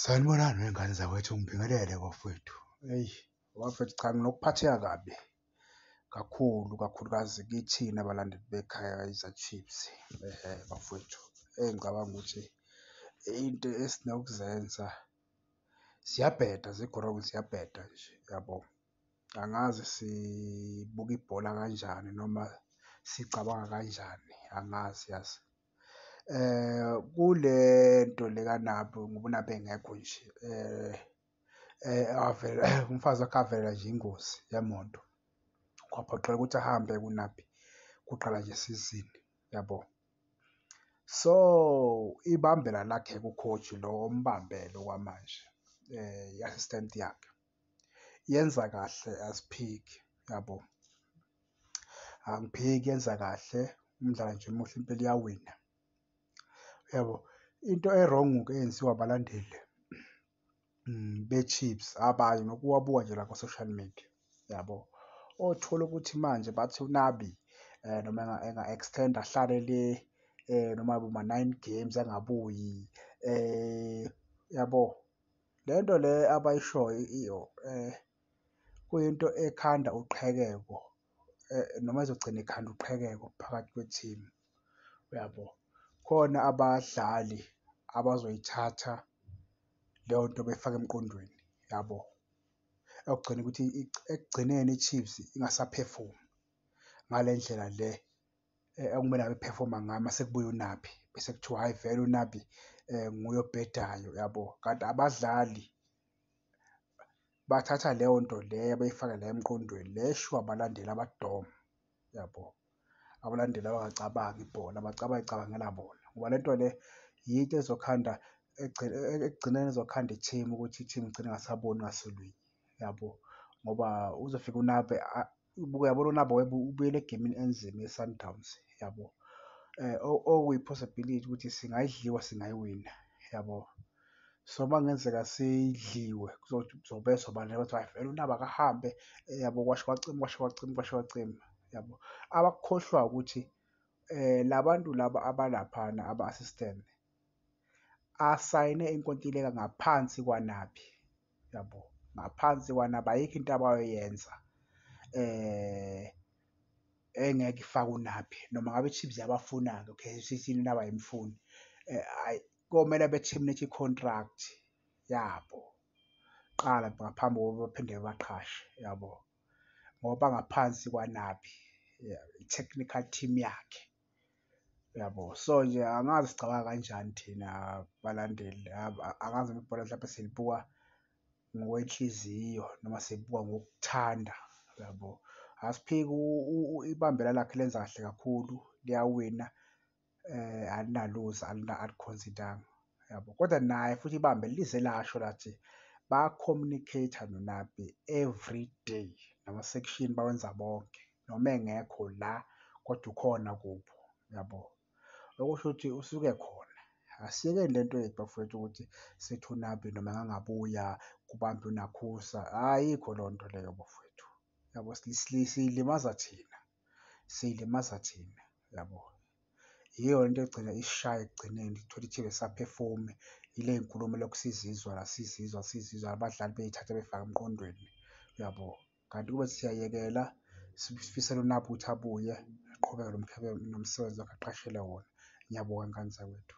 Sanibonani wey'ngane zakwethu, ngibingelele bafwethu. Eyi bafwethu cha nginokuphatheka kabi kakhulu, kakhulukazi kithina balandeli beKaizer Chiefs bafwethu. Eyi ngicabanga ukuthi into esinokuzenza, ziyabheda zigorongo ziyabheda nje yabo. Angazi sibuka ibhola kanjani noma sicabanga kanjani, angazi yazi. eh kulento leka nabu ngibona bengekho nje eh eh avela umfazi wakhe avela nje ingozi yemoto kwaphoqela ukuthi ahambe kunabi kuqala nje sizini yabo so ibambela lakhe ku coach lo ombambele okwamanje eh i-assistant yakhe. yenza kahle asiphiki yabo, angiphiki yenza kahle umdlalo nje muhle impela iyawina yabo. Into erongi-ke eyenziwa abalandeli beChiefs abanye nokuwabuka nje la ko-social media yabo, othola ukuthi manje bathi uNabi noma enga-extend-a ahlale le noma boma-nine games angabuyi yabo. Le nto le abayishoyo iyo kuyinto ekhanda uqhekeko noma ezogcina ikhanda uqhekeko phakathi kwethimu, uyabo? Khona abadlali abazoyithatha leyo nto beyifake emqondweni, uyabo? Okugcina ukuthi ekugcineni iChiefs ingasaphefumi ngale ndlela le. eh, okumele ngabe performa ngayo mase kubuya uNabi bese kuthiwa hayi vele uNabi eh, nguye obhedayo yabo kanti abadlali bathatha leyo nto leyo abayifaka la emqondweni le shuwa abalandeli abadom yabo abalandeli abangacabangi ibhola bacabanga icabangela bona ngoba le nto le yinto ezokhanda ekugcineni ezokhanda i-team ukuthi i-team igcine ngasaboni ngasolwini yabo ngoba uzofika unabe Ubuke yabona uNaboebo ubuyele egemini enzima yeSundowns yabo, okuyi-possibility ukuthi singayidliwa singayiwina yabo. So, uma kungenzeka seyidliwe kuzobezwa abantu abathi hhayi vele uNabi akahambe yabo, kwasho kwacima, kwasho kwacima, kwasho kwacima yabo. Abakukhohlwayo ukuthi la bantu laba abalaphana aba-assistant asayine inkontileka ngaphansi kwaNabi. yabo ngaphansi kwana bayikho into abayoyenza eh engeke ifake unaphi noma ngabe iChiefs yabafuna-ke okay sithini nabayimfuni eh, hayi komele be-terminate i-contract yabo qala ngaphambi kokuba baphinde baqhashe yabo ngoba ngaphansi kwanaphi i-technical team yakhe. yabo so nje angazi sicabanga kanjani thina balandeli angazi ibhola mhlawumbe silibuka ngokwenhliziyo noma sibuka ngokuthanda yabo asiphiki ibambela lakhe lenza kahle kakhulu liyawina eh alinaluza alina alikhonsidanga yabo kodwa naye futhi ibambe lize lasho lathi ba communicate nonabi every day nama section bawenza bonke noma engekho la kodwa ukhona kubo yabo. Okusho ukuthi usuke khona. Asiyekeni le nto yethu bafowethu ukuthi sithi uNabi noma engangabuya kubantu nakhusa. Ayikho leyo nto leyo bafowethu yabo, siyilimaza thina, siyilimaza thina yabo. Iyona into egcina isishaya ekugcineni uthole ukuthi besaphefumi ile y'nkulumo lokhu sizizwa la sizizwa sizizwa abadlali bey'thatha bey'fake emqondweni yabo. kanti kube siyayekela sifisela unabo ukuthi abuye aqhubeke nomsebenzi wakhe aqashele wona. Ngiyabonga ngane zakwethu.